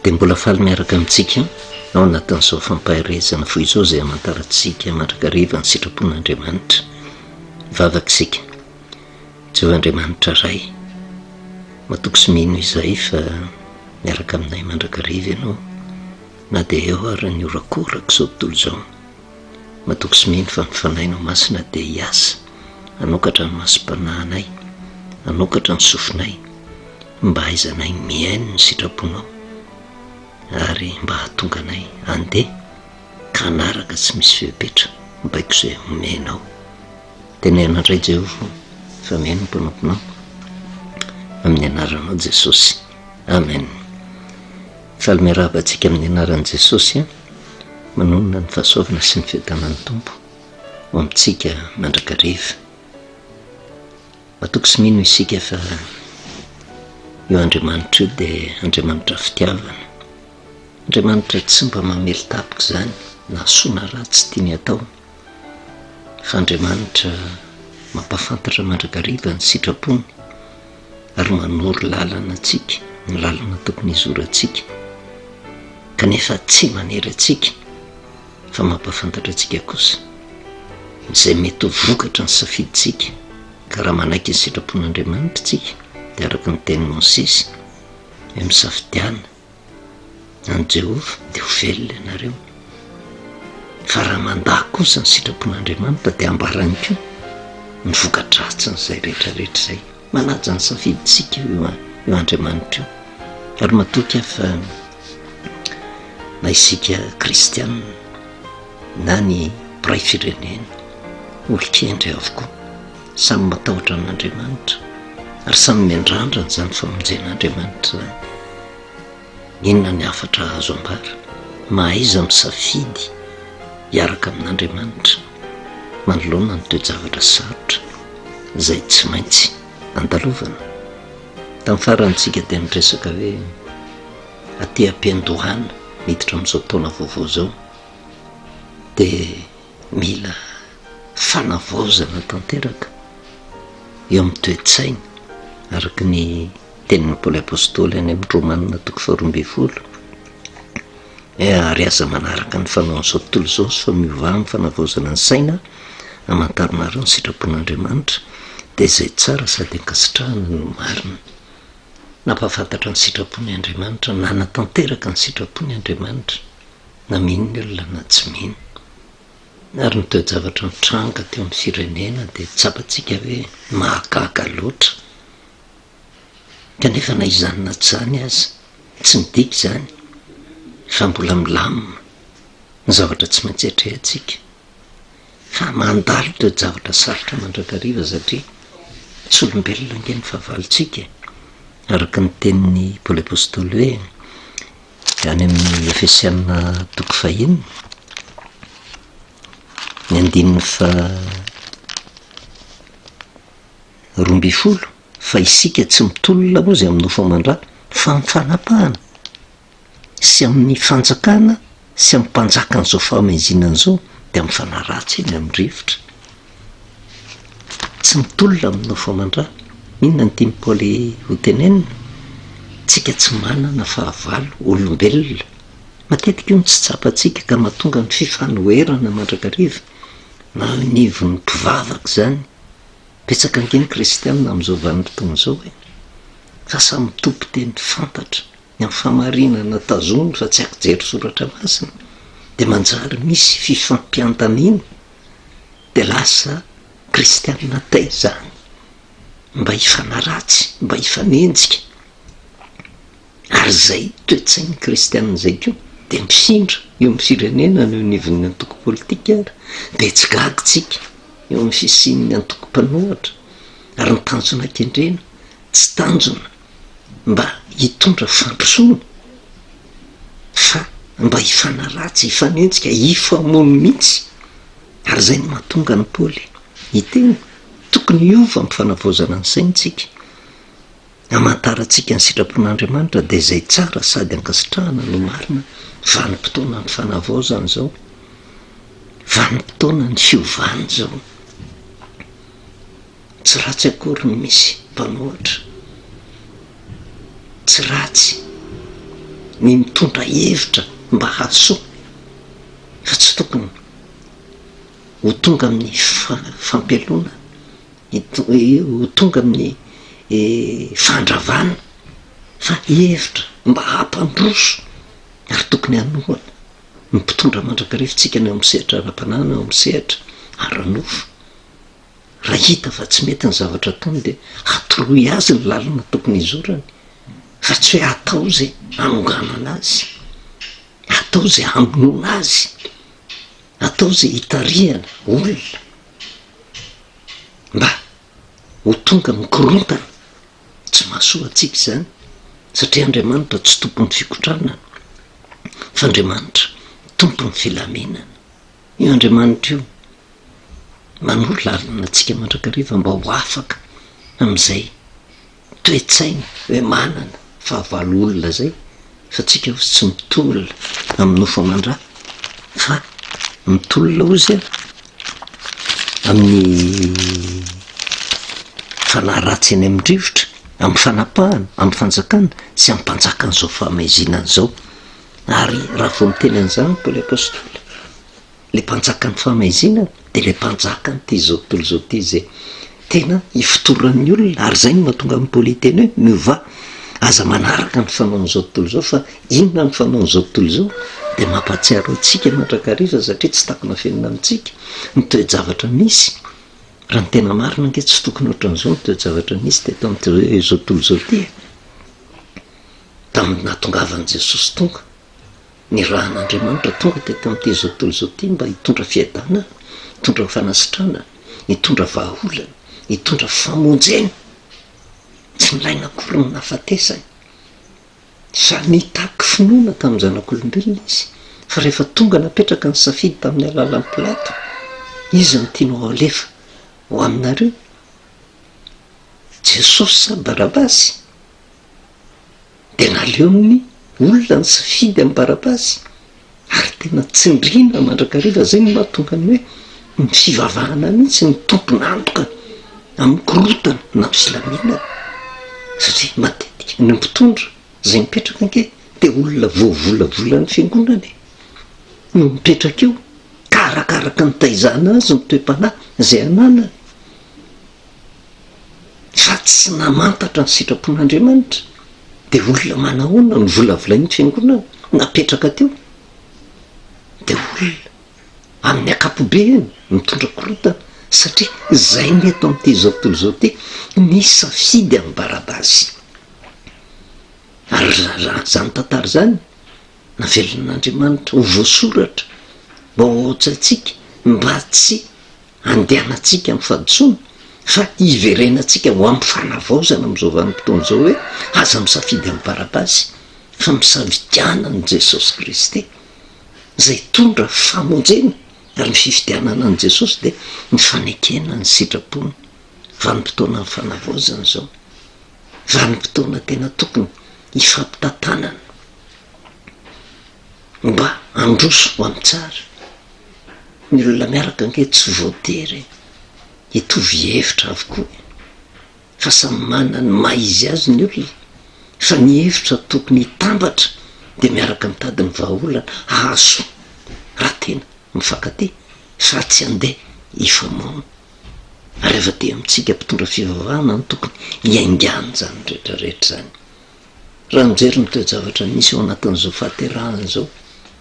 dia mbola faly miaraka amintsika ao anatin'izao fampaherezana fo izao izay amantarantsika mandrakariva ny sitrapon'Andriamanitra vavaka isika Jehovah Andriamanitra Ray matoky sy mino izay fa miaraka aminay mandrakariva ianao na dia eo ary ny orakoraka izao tontolo izao Matoky sy mino fa ny Fanahinao Masina dia hiasa hanokatra ny masom-panahinay, hanokatra ny sofinay, mba hahaizanay mihaino ny sitraponao ary mba hahatonga anay handeha ka hanaraka tsy misy fepetra ny baiko izay omenao. Teneno indray Jehovah fa mihaino ny mpanomponao, amin'ny anaranao Jesosy. Amen. Faly miarahaba antsika amin'ny anaran'i Jesosy a! Manonona ny fahasoavana sy ny fiadanan'ny Tompo ho amintsika mandrakariva. Matoky sy mino isika fa io Andriamanitra io dia Andriamanitra fitiavana, Andriamanitra tsy mba mamely tapitra izany na soa na ratsy tiany atao, fa Andriamanitra mampahafantatra mandrakariva ny sitrapony. ary manoro lalana antsika, ny lalana tokony hizorantsika, kanefa tsy manery antsika fa mampahafantatra antsika kosa izay mety ho vokatry ny safidintsika, ka raha manaiky ny sitrapon'Andriamanitra isika dia araka ny tenin'i Mosesy hoe misafidiana an'i Jehovah, dia ho velona ianareo. Fa raha mandà kosa ny sitrapon'Andriamanitra, dia hambarany koa ny voka-dratsin'izay rehetrarehetra izay. Manaja ny safidintsika io Andriamanitra io, ary matoky ahy fa na isika kristiana na ny mpiray firenena, olon-kendry avokoa. Samy matahotra an'Andriamanitra ary samy miandrandra izany famonjen'Andriamanitra izany. Inona ny hafatra azo ambara? Mahaiza misafidy hiaraka amin'Andriamanitra manoloana ny toe-javatra sarotra izay tsy maintsy andalovana. Tamin'ny farantsika dia niresaka hoe aty am-piandohana miditra amin'izao taona vaovao izao dia Mila fanavaozana tanteraka eo amin'ny toe-tsaina, araka ny tenin'i Paoly Apostoly any amin'ny Romana toko faharoa ambin'ny folo, ary aza manaraka ny fanaon'izao tontolo izao fa miovà amin'ny fanavaozana ny saina hamantaranareo ny sitrapon'Andriamanitra, dia izay tsara sady ankasitrahana no marina. Nampahafantatra ny sitrapony Andriamanitra, nanatanteraka ny sitrapony Andriamanitra. na mino ny olona na tsy mino, ary ny toe-javatra nitranga teo amin'ny firenena dia tsapantsika hoe mahagaga loatra, kanefa na izany na tsy izany aza, tsy midika izany fa mbola milamina ny zavatra tsy maintsy atrehantsika, fa mandalo toe-javatra sarotra mandrakariva satria tsy olombelona ange ny fahavalontsika e! araka ny tenin'i Paoly Apostoly hoe. Any amin'ny Efesiana toko fahenina, ny andininy faharoa ambin'ny folo, fa isika tsy mitolona moa izay amin'ny nofo aman-dra, fa amin'ny fanapahana, sy amin'ny fanjakana, sy amin'ny mpanjakan'izao fahamezinana izao, dia amin'ny fanaratsiana, amin'ny rivotra. Tsy mitolona aminao vao mandra. Inona no tian'i Paoly hotenenina? Tsika tsy manana fahavalo olombelona. Matetika io no tsy tsapantsika ka mahatonga ny fifanoherana mandrakariva na eo anivon'ny mpivavaka izany. Betsaka ange ny kristiana amin'izao vanim-potoana izao e! Fa samy mitopy teny fantatra ny amin'ny fahamarinana tazominy fa tsy ankijery soratra masina dia manjary misy fifampiantaniana. dia lasa kristianina tay izany mba hifanaratsy, mba hifanenjika, ary izay toe-tsain'ny kristianina izay koa dia mifindra eo amin'ny firenena no eo anivon'ny antoko politika ary dia tsy gaga isika eo amin'ny fisian'ny antoko mpanohatra ary ny tanjona kendrena tsy tanjona mba hitondra fandrosoana fa mba hifanaratsy, hifanenjika, hifamono mihitsy ary izay no mahatonga an'i Paoly hiteny tokony hiova amin'ny fanavaozana ny saina isika. Hamantarantsika ny sitrapon'Andriamanitra dia izay tsara sady ankasitrahana no marina. Vanim-potoanan'ny fanavaozana izao, vanim-potoanan'ny fiovana izao. Tsy ratsy akory ny misy mpanohatra, tsy ratsy ny mitondra hevitra mba hahasoa fa tsy tokony ho tonga amin'ny fampialona, ho tonga amin'ny fandravana fa hevitra mba hampandroso ary tokony hanohana ny mpitondra mandrakariva antsika na eo amin'ny sehatra ara-panahy na eo amin'ny sehatra ara-nofo. Raha hita fa tsy mety ny zavatra ataony dia atoloy azy ny lalana tokony hizorany fa tsy hoe atao izay hanonganana azy, atao izay hamonoana azy, atao izay hitarihana olona mba ho tonga amin'ny korontana. Tsy mahasoa antsika izany satria Andriamanitra tsy tompon'ny fikotranana fa Andriamanitra tompon'ny filaminana. Io Andriamanitra io manoro lalana antsika mandrakariva mba ho afaka amin'izay toe-tsaina hoe manana fahavalo olona izay fa tsika hozy tsy mitolona amin'ny nofo aman-dra fa mitolona hozy a amin'ny fanahy ratsy eny amin'ny rivotra amin'ny fanapahana amin'ny fanjakana sy amin'ny mpanjaka an'izao famaizinana izao Ary raha vao miteny an'izany Paoly Apostoly, ilay mpanjakan'ny fahamaizina dia ilay mpanjakan'ity izao tontolo izao ity izay tena ifotoran'ny olona, ary izay no mahatonga an'i Paoly hiteny hoe miovà, aza manaraka ny fanaon'izao tontolo izao, fa inona ny fanaon'izao tontolo izao? Dia mampahatsiaro antsika mandrakariva satria tsy takona afenina amintsika ny toe-javatra misy, raha ny tena marina ange tsy tokony ohatran'izao ny toe-javatra nisy teto amin'ity izao tontolo izao ity e! Tamin'ny nahatongavan'i Jesosy tonga, nirahan'Andriamanitra tonga teto amin'ity izao tontolo izao ity mba hitondra fiadanana, hitondra fanasitranana, hitondra vahaolana, hitondra famonjena. Tsy nilaina akory ny nahafatesany. Samy nitaky finoana tamin'ny zanak'olombelona izy, fa rehefa tonga napetraka ny safidy tamin'ny alalan'i Pilato, Iza no tianao halefa ho aminareo, Jesosy sa Barabasy? dia naleon'ny olona nisafidy an'i Barabasy ary tena tsindriana mandrakariva, izay no mahatonga ny hoe ny fivavahana mihitsy no tompon'antoka amin'ny korotana na filaminana satria matetika ny mpitondra izay mipetraka ange dia olona voavolavolan'ny fiangonana e! no mipetraka eo ka arakaraka ny taizana azy ny toe-panahy izay ananany. fa tsy namantatra ny sitrapon'Andriamanitra, dia olona manahoana no volavolain'ny fiangonana napetraka teo? Dia olona amin'ny ankapobeany mitondra korotana, satria izay ny eto amin'ity izao tontolo izao ity, nisafidy an'i Barabasy. Ary raha izany tantara izany, navelan'Andriamanitra ho voasoratra mba ho ao an-tsaintsika, mba tsy andehanantsika amin'ny fahadisoana fa hiverenantsika ho amin'ny fanavaozana amin'izao vanim-potoana izao hoe aza misafidy an'i Barabasy fa misafidiana an'i Jesosy Kristy izay hitondra famonjena ary ny fifidianana an'i Jesosy dia ny fanekena ny sitrapony vanim-potoanan'ny fanavaozana izao vanim-potoana tena tokony hifampitantanana Mba androso ho any tsara ny olona miaraka ange tsy voatery hitovy hevitra avokoa e! Fa samy manana ny maha izy azy ny olona fa ny hevitra tokony hitambatra dia miaraka mitady ny vahaolana hahasoa raha tena mifankatia fa tsy handeha hifamono ary avadihany amintsika mpitondra fivavahana no tokony hiaingàn'izany rehetra rehetra izany. Raha mijery ny toe-javatra misy ao anatin'izao fahaterahana izao,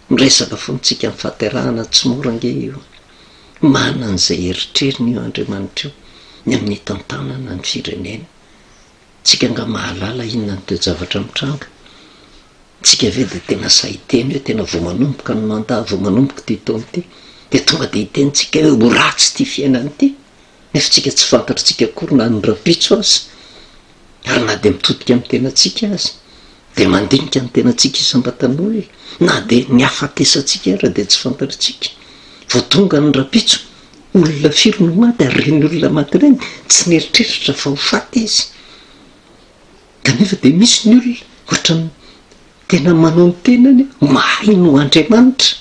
miresaka foana isika amin'ny fahaterahana, tsy mora ange io. Manana an'izay herotrerony io Andriamanitra io ny amin'ny hitantanana ny firenena. Tsika angaha mahalala inona ny toe-javatra mitranga? Tsika ve dia tena sahy hiteny hoe tena vao manomboka ny mandat, vao manomboka ity taona ity, dia tonga dia hiteny tsika hoe ho ratsy ity fiainana ity? nefa tsika tsy fantatritsika akory na ny rahampitso aza, ary na dia mitodika amin'ny tenantsika aza dia mandinika ny tenantsika isam-batan'olona, na dia ny hafatesantsika aza dia tsy fantatritsika, vao tonga ny rahampitso, olona firy no maty ary ireny olona maty ireny tsy nieritreritra fa ho faty izy, kanefa dia misy ny olona ohatran'ny tena manao ny tenany mahay noho Andriamanitra.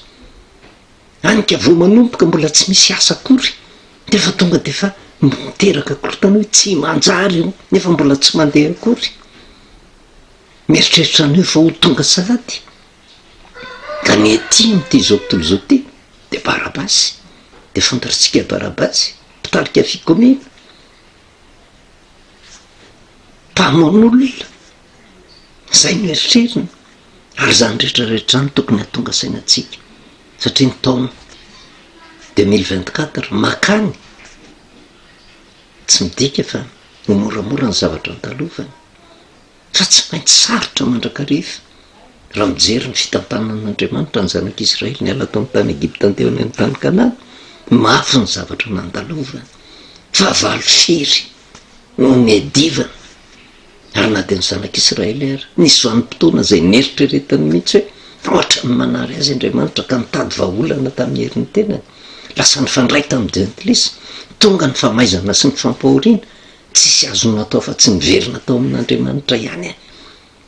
Any ka vao manomboka mbola tsy misy asa akory dia efa tonga dia efa miteraka korotana hoe tsy manjary io nefa mbola tsy mandeha akory. Mieritreritra an'io fa ho tonga salady. Ka ny ety amin'ity izao tontolo izao ity dia Barabasy. Dia fantatritsika Barabasy, mpitarika fikomiana, mpamono olona, Izay no eritreriny, ary izany rehetra rehetra izany tokony hahatonga saina antsika, satria ny taona deux mille vingt quatre makany, tsy midika fa ho moramora ny zavatra andalovany, fa tsy maintsy sarotra mandrakariva, raha mijery ny fitantanan'Andriamanitra ny zanak'Israely niala tao amin'ny tany Egypta teo any amin'ny tany Kanana, mafy ny zavatra nandalovany, fahavalo firy. Nonedivana, ary na dia ny Zanak'Israely ary, nisy vanim-potoana izay neritreretiny mihitsy hoe fa hoatran'ny manary azy Andriamanitra, ka nitady vahaolana tamin'ny herin'ny tenany. Lasa nifandray tamin'i Jentilisa. Tonga ny famaizana sy ny fampahoriana. Tsisy azony natao afa-tsy ny miverina tao amin'Andriamanitra ihany e!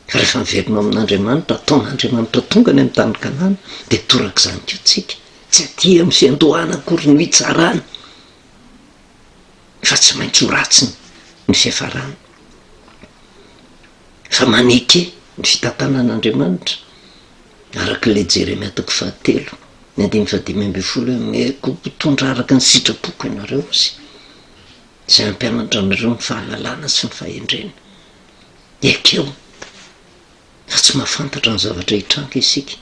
Fa rehefa miverina ao amin'Andriamanitra, ataon'Andriamanitra tonga ny amin'ny tany Kanana, dia torak'izany koa tsika. Tsy aty amin'ny fiandohana akory no hitsarana. fa tsy maintsy ho ratsy ny fiafarany, fa maneke ny fitantanan'Andriamanitra, araka ilay Jeremia toko fahatelo ny andininy fahadimy ambin'ny folo hoe, Omeko ho mpitondra araka ny sitrapoko ianareo, sy izay hampianatra anareo ny fahalalana sy ny fahendrena. Ekeo fa tsy mahafantatra ny zavatra hitranga isika,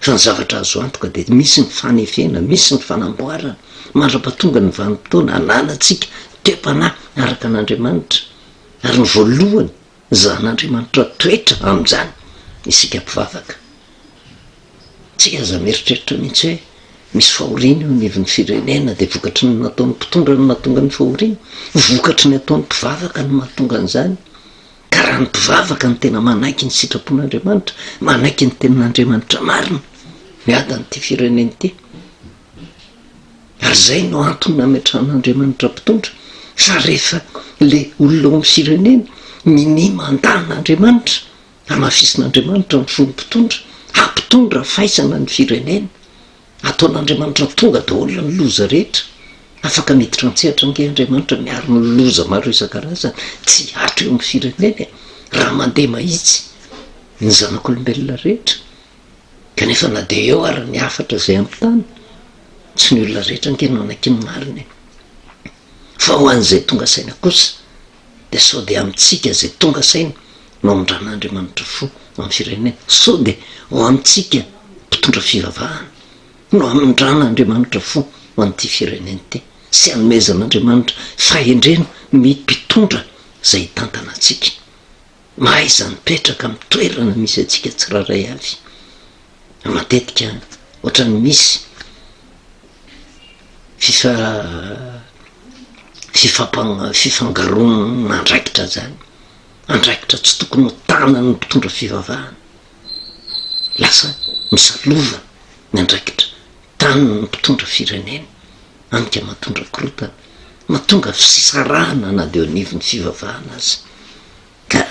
fa ny zavatra azo antoka dia misy ny fanefena, misy ny fanamboarana, mandra-pahatonga ny vanim-potoana hanalantsika toe-panahy araka an'Andriamanitra, ary ny voalohany zan'Andriamanitra toetra amin'izany isika mpivavaka. Tsy aza mieritreritra mihitsy hoe misy fahoriana eo anivon'ny firenena dia vokatry ny nataon'ny mpitondra no mahatonga ny fahoriana, vokatry ny ataon'ny mpivavaka no mahatonga an'izany. Ka raha ny mpivavaka no tena manaiky ny sitrapon'Andriamanitra, manaiky ny tenin'Andriamanitra marina, miady an'ity firenena ity. Ary izay no antony nametrahan'Andriamanitra mpitondra, fa rehefa le olona ao amin'ny firenena minia mandà an'Andriamanitra, hamafisin'Andriamanitra ny fony mpitondra, hampitondra faisana ny firenena. Ataon'Andriamanitra tonga daholo ny loza rehetra. Afaka miditra an-tsehatra ange Andriamanitra miaro ny loza maro isan-karazany tsy hihatra eo amin'ny firenena e! Raha mandeha mahitsy ny zanak'olombelona rehetra. Kanefa na dia eo ary ny hafatra izay amin'ny tany, tsy ny olona rehetra ange no hanaky ny marina e! Fa ho an'izay tonga saina kosa, dia sao dia amintsika izay tonga saina no hamindran'Andriamanitra fo amin'ny firenena, sao dia ho amintsika mpitondra fivavahana no hamindran'Andriamanitra fo ho an'ity firenena ity sy hanomezan'Andriamanitra fahendrena ny mpitondra izay hitantana antsika. Mahaiza mipetraka amin'ny toerana misy antsika tsirairay avy. Matetika ohatran'ny misy fifa fifampa- fifangaroan'andraikitra zany. Andraikitra tsy tokony ho tanan'ny mpitondra fivavahana. Lasa misalova ny andraikitra. Taniny ny mpitondra firenena, anika matondra korotana, matonga fisarahana na dia eo anivon'ny fivavahana aza. Ka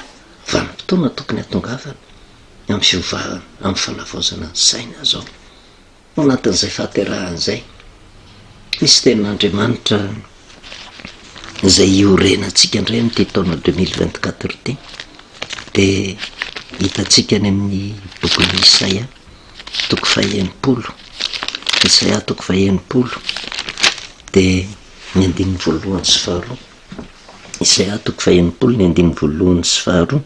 vanim-potoana tokony hatongavana amin'ny fiovahana, amin'ny fanavaozana ny saina izao. Ao anatin'izay fahaterahana izay, misy tenin'Andriamanitra izay iorenantsika indray amin'ity taona deux mille vingt-quatre ity, dia hitantsika any amin'ny bokin'i Isaia. toko faha enimpolo, Jesaja toko faha enimpolo dia ny andininy voalohany sy faharoa, Jesaja toko faha enimpolo ny andininy voalohany sy faharoa,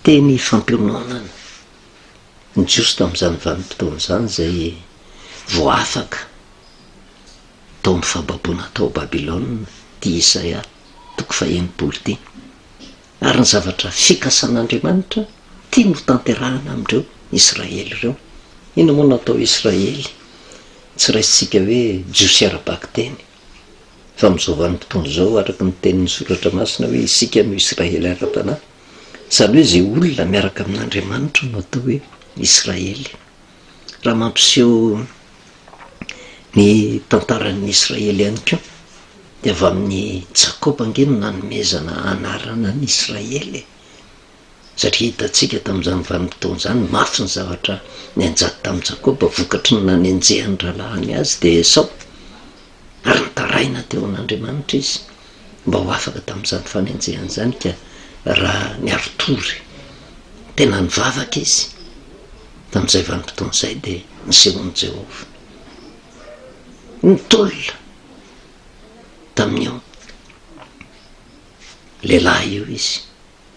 teny fampiononana ny Jiosy tamin'izany vanim-potoana izany izay vao afaka tao amin'ny fahababoana tao Babylona ity Jesaja toko faha enimpolo ity. Ary ny zavatra fikasan'Andriamanitra tiany ho tanterahana amin'ireo Israely ireo. Inona moa no atao Israely? Tsy raisintsika hoe Jiosy ara-bakiteny. Fa amin'izao vanim-potoana izao, araka ny tenin'ny Soratra Masina hoe isika no Israely ara-panahy. Izany hoe izay olona miaraka amin'Andriamanitra no atao hoe Israely. raha mampiseho ny tantaran'ny Israely ihany koa dia avy amin'ny Jakoba ange no nanomezana anarana an'i Israely e! satria hitantsika tamin'izany vanim-potoana izany mafy ny zavatra nianjady tamin'i Jakoba vokatry ny nanenjehan'ny rahalahiny azy dia Esao Ary nitaraina teo amin'Andriamanitra izy mba ho afaka tamin'izany fanenjehana izany, ka raha niari-tory tena nivavaka izy tamin'izay vanim-potoana izay, dia nisehoan'i Jehovah. Nitolona tamin'io lehilahy io izy.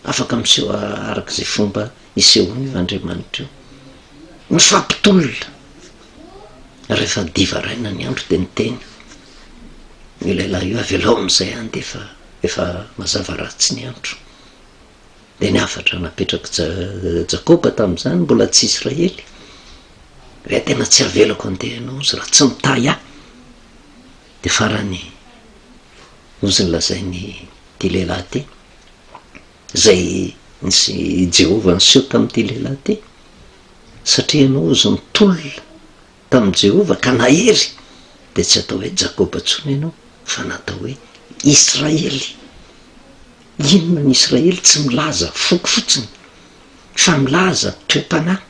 Afaka miseho araka izay fomba isehoan'io Andriamanitra io. Mifampitolona. Rehefa dia varaina ny andro dia niteny io lehilahy io, avelao amin'izay any dia efa efa mazava ratsy ny andro. Dia ny hafatra napetrak'i Jakoba tamin'izany mbola tsy Israely hoe tena tsy avelako andeha ianao izy raha tsy mitahy ahy. Dia farany hozy ny lazain'ity lehilahy ity. Izay nisy i Jehovah niseho tamin'ity lehilahy ity, satria ianao ozy nitolona tamin'i Jehovah ka nahery, dia tsy atao hoe Jakoba intsony ianao fa na atao hoe Israely. Inona ny Israely? Tsy milaza foko fotsiny, fa milaza toe-panahy.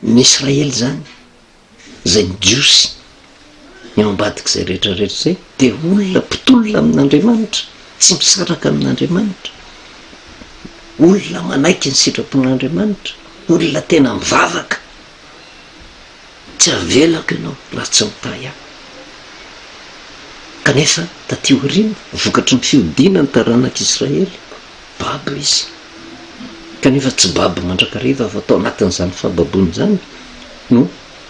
Ny Israely izany izay ny Jiosy, ny ao ambadik'izay rehetra rehetra izay, dia olona mpitolona amin'Andriamanitra, tsy misaraka amin'Andriamanitra, olona manaiky ny sitrapon'Andriamanitra, olona tena mivavaka, tsy avelako ianao raha tsy mitahy ahy. Kanefa taty aoriana, vokatry ny fiodiana ny taranak'Israely, Babo izy, kanefa tsy babo mandrakariva fa tao anatin'izany fahababoana izany no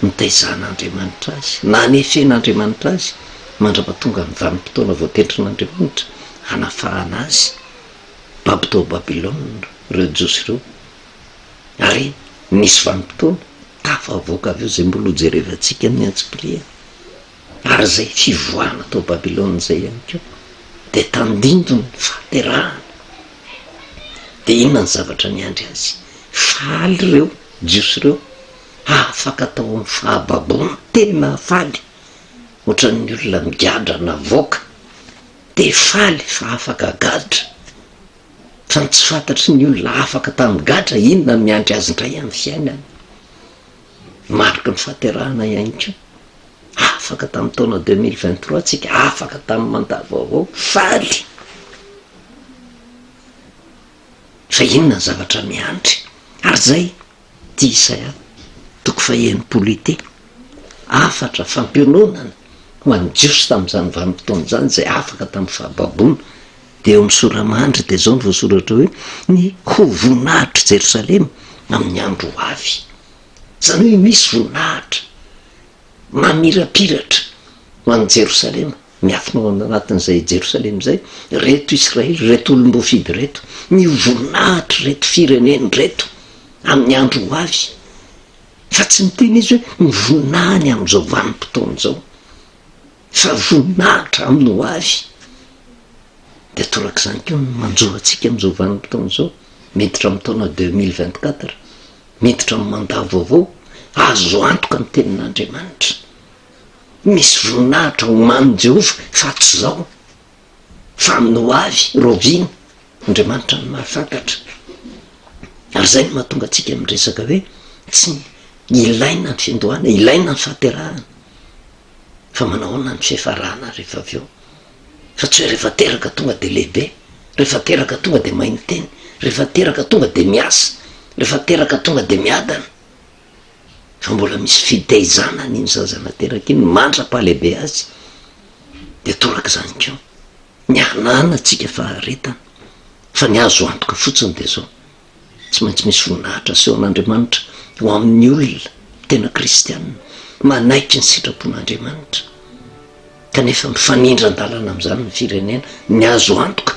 nitaizan'Andriamanitra azy, nanefen'Andriamanitra azy mandrapatonga ny vanim-potoana voatendrin'Andriamanitra hanafahana azy. Babo tao Babylona ireo Jiosy ireo, ary nisy vanim-potoana tafavoaka avy eo izay mbola hojerevantsika amin'ny antsipiriany. Ary izay fivoahana tao Babylona izay ihany koa dia tandindon' ny fahaterahana. Dia inona ny zavatra niandry azy? Faly ireo Jiosy ireo afaka tao amin'ny fahababoana, tena faly, ohatran'ny olona migadra navoaka, te faly fa afaka gadra, fa ny tsy fantatry ny olona afaka tamin'ny gadra inona no miandry azy indray amin'ny fiainany. Mariky ny fahaterahana ihany koa. Afaka tamin'ny taona deux mille vingt trois tsika, afaka tamin'ny mandat vaovao, faly fa inona ny zavatra miandry? Ary zay ty Isaya toko faha-enimpolo ity, hafatra fampiononana ho an'ny Jiosy tamin'izany vanim-potoana izany izay afaka tamin'ny fahababoana, Dia eo amin'ny sora mandry dia izao no voasoratra hoe, ny ho voninahitr'i Jerosalema amin'ny andro ho avy. Izany hoe misy voninahitra mamirapiratra ho an'i Jerosalema, miafina ao anatin'izay Jerosalema izay, ireto Israely, ireto olom-boafidy ireto, ny ho voninahitr'ireto firenena ireto amin'ny andro ho avy. Fa tsy miteny izy hoe ny voninahiny amin'izao vanim-potoana izao. Fa voninahitra aminy ho avy. Dia torak'izany koa ny manjo antsika amin'izao vanim-potoana izao, miditra amin'ny taona deux mille vingt quatre, miditra amin'ny mandat vaovao, azo antoka ny tenin'Andriamanitra. Misy voninahitra homanin'i Jehovah fa tsy izao fa amin'ny ho avy, rahoviana? Andriamanitra no mahafantatra. Ary izay no mahatonga antsika miresaka hoe tsy ilaina ny fiandohana, ilaina ny fahaterahana. fa manao ahoana ny fiafarana rehefa avy eo fa tsy hoe rehefa teraka tonga dia lehibe, rehefa teraka tonga dia mahay miteny, rehefa teraka tonga dia miasa, rehefa teraka tonga dia miadana fa mbola misy fitaizana an'iny zaza nateraka iny mandra-pahalehibe azy dia torak'izany koa ny ananantsika faharetana fa ny azo antoka fotsiny dia zao. Tsy maintsy misy voninahitra asehon'Andriamanitra ho amin'ny olona tena kristianina manaiky ny sitrapon'Andriamanitra. Kanefa mifanindran-dalana amin'izany ny firenena, ny azo antoka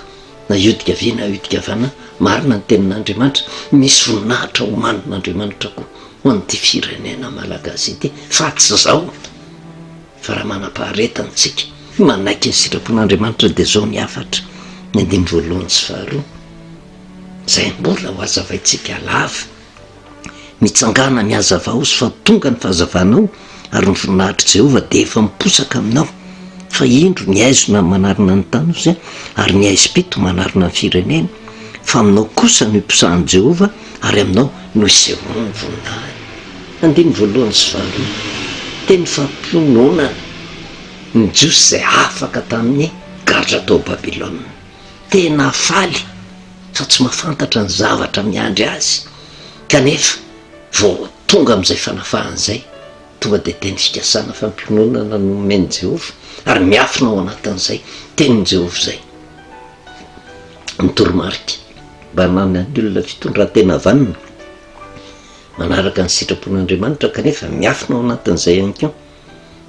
na hiodika havia na hiodika havanana, marina ny tenin'Andriamanitra, misy voninahitra homanin'Andriamanitra koa ho an'ity firenena malagasy ity, fa tsy izao fa raha manam-paharetana isika, manaiky ny sitrapon'Andriamanitra dia izao ny hafatra, ny andininy voalohany sy faharoa. izay mbola ho azavaintsika lava. Mitsangàna ny hazavao sy fa tonga ny fahazavanao, ary ny voninahitr'i Jehovah dia efa miposaka aminao. Fa indro, ny haizina no manarona ny tanosy, ary ny haizim-pito manarona ny firenena. Fa aminao kosa no iposahan'i Jehovah, ary aminao no isehoany ny voninahiny. Andininy voalohany sy faharoa. Teny fampiononana ny Jiosy izay afaka tamin'ny gadra tao Babylona. tena faly fa tsy mahafantatra ny zavatra miandry azy kanefa vao tonga amin'izay fanafahana izay, tonga dia teny fikasana fampiononana no omen'i Jehovah, ary miafina ao anatin'izay tenin'i Jehovah izay. Ny toromarika mba hananan'ny olona fitondran-tena vanona, manaraka ny sitrapon'Andriamanitra kanefa miafina ao anatin'izay ihany koa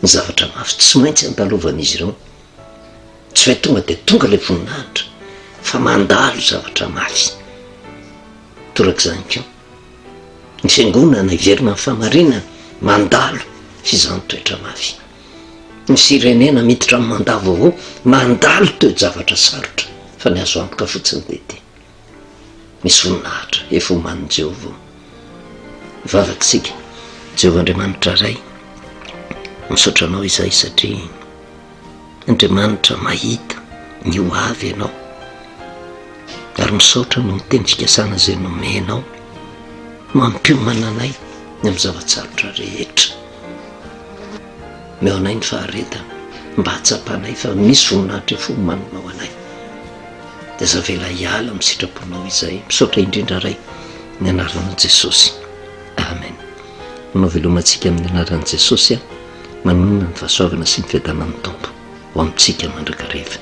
ny zavatra mafy tsy maintsy andalovan'izy ireo tsy hoe tonga dia tonga ilay voninahitra fa mandalo zavatra mafy torak'izany koa ny fiangonana hiverina ny famarinana mandalo fizany toetra mafy ny firenena miditra ny manda vaovao mandalo toejavatra sarotra fa ny azo antoka fotsiny dia ity Misy voninahitra efa omanin'i Jehovah ao. Mivavaka isika. Jehovah Andriamanitra Ray, misaotra Anao izahay satria Andriamanitra mahita ny ho avy Ianao. Ary misaotra noho ny tenim-pikasana izay nomenao mampiomana anay ny amin'ny zava-tsarotra rehetra. Omeo anay ny faharetana mba hahatsapanay fa misy voninahitra efa omaninao anay. dia aza avela hiala amin'ny sitraponao izay. Misaotra indrindra Ray, ny anaran'i Jesosy. Amen. Manao veloma antsika amin'ny anaran'i Jesosy a. Manonona ny fahasoavana sy ny fiadanan'ny Tompo ho amintsika mandrakariva.